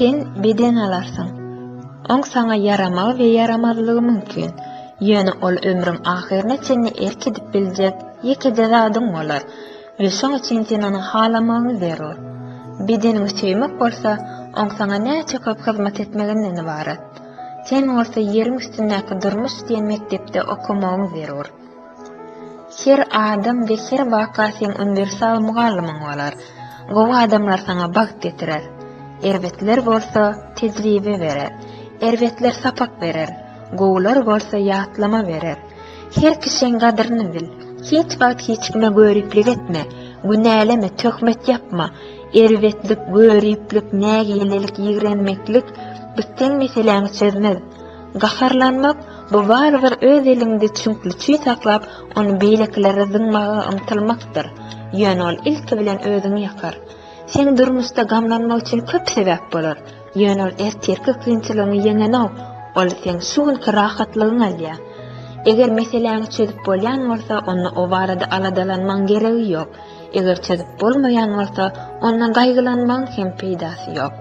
Sen beden alarsyň. Oň saňa ýaramagy we ýaramazlygy mümkin. Ýöne ol ömrüň ahyryna çenli erk edip biljek ýekeje zadyň bolar we şoň üçin sen ony halamagyň zerur. Bedeniňi söýmek bolsa, oň saňa näçe köp hyzmat etmeginden ybarat. Sen bolsa ýeriň üstündäki durmuş diýen mekdepde okamagyň zerur. Her adam we her waka seň uniwersal mugallymyň bolar. Gowy adamlar saňa bagt getirer. Erbetler bolsa tejribe berer. Erbetler sapak berer. Gowular bolsa ýatlama berer. Her kişiň gadyryny bil. Hiç wagt hiç kime göriplik etme. Günäleme, töhmet ýapma. Erbetlik, göriplik, nägilelik, ýigrenmeklik bitseň meseläňi çözmez. Gaharlanmak, bu barybir öz eliňde çüňkli çüý saklap, ony beýlekilere zyňmaga ymtylmakdyr. Ýöne ol ilki bilen özüňi ýakar. Seň durmuşda gamlanmak üçin köp sebäp bolar. Ýöne ol ertirki kynçylygyňy ýeňenok, ol seň şu günki rahatlygyňy alýar. Eger meseläňi çözüp bolýan bolsa, onda o barada aladalanmagyň geregi ýok. Eger çözüp bolmaýan bolsa, ondan gaýgylanmagyň hem peýdasy ýok.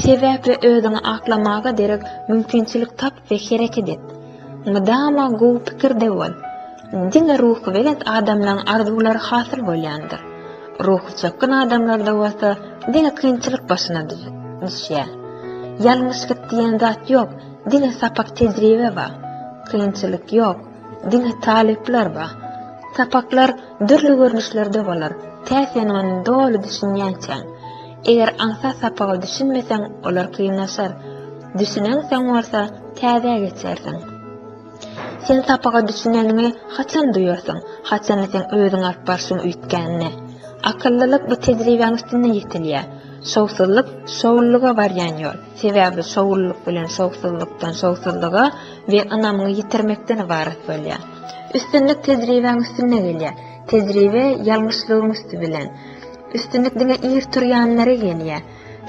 Sebäp we özüňi aklamaga derek mümkinçilik tap we hereket et. Mydama gowy pikirde bol. Diňe ruhubelent adamlaryň arzuwlary hasyl bolýandyr. Ruhy çökgün adamlarda bolsa diňe kynçylyk başyna düşýär. Ýalňyşlyk diýen zat ýok, diňe sapak-tejribe bar. Kynçylyk ýok. Diňe talyplar ba. Sapaklar dürli görnüşlerde bolar, tä sen ony doly düşünýänçäň. Eger aňsat sapaga düşünmeseň, olar kynlaşar. Düşünensoň bolsa, täzä geçersiň. Sen sapaga düşüneniňi haçan duýarsyň? Haçanda seň özüň alyp barşyň üýtgände. Akyllylyk bu tejribäň üstünde ýetilýär. Şowsuzlyk şowlulyga barýan ýol. Sebäbi şowlulyk bilen şowsuzlykdan, şowsuzlyga we ynamyňy ýitirmekden ybarat bolýar. Üstünlik tejribäň üstünde gelýär. Tejribe ýalňyşlygyň üsti bilen. Üstünlik diňe ir turýanlara gelýär.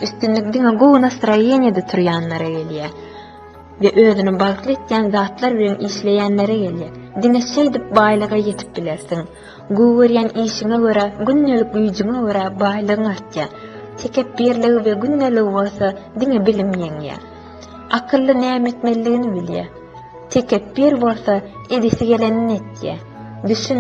Üstünlik diňe gowy nastroýeniýede turýanlara gelýär we özüni bagtly etýän zatlar bilen işleýänlere gelýär. Diňe şeýdip baýlyga ýetip bilersiň. Gowy görýän işiňe görä, gündelik güýjüňe görä baýlygyň artýar. Tekepbirligi we gündeligi bolsa diňe bilim ýeňýär. Akylly näme etmelidigini bilýär. Tekepbir bolsa edesi gelenini etýär. Düşün,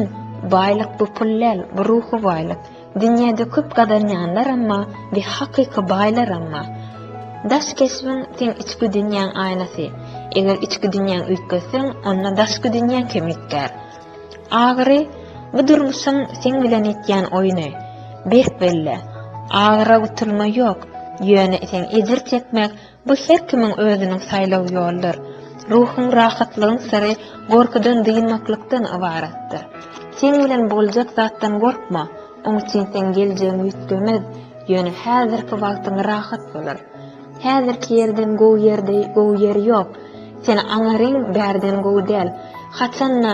baýlyk bu pul däl, bu ruhy baýlyk. Dünýäde köp gazanýanlaram bar we hakyky baýlaram bar. Daş keşbiň seň içki dünýäň aýnasy. Eger içki dünýäňi üýtgetseň, onda daşky dünýäň hem üýtgär. Agyry, bu durmuşyň seň bilen etýän oýny. Berk belle, agyra gutulma ýok, ýöne sen ejir çekmek, bu her kimiň özüniň saýlaw ýoludyr. Ruhuň rahatlygyň syry gorkudan dynmaklykdan ybaratdyr. Seň bilen boljak zatdan gorkma, oň üçin seň geljegiň üýtgemez, ýöne häzirki wagtyň rahat bolar. Häzirki ýerden gowy ýerde gowy ýer ýok. Seni aňaryň bärden gowy däl. Haçan-da,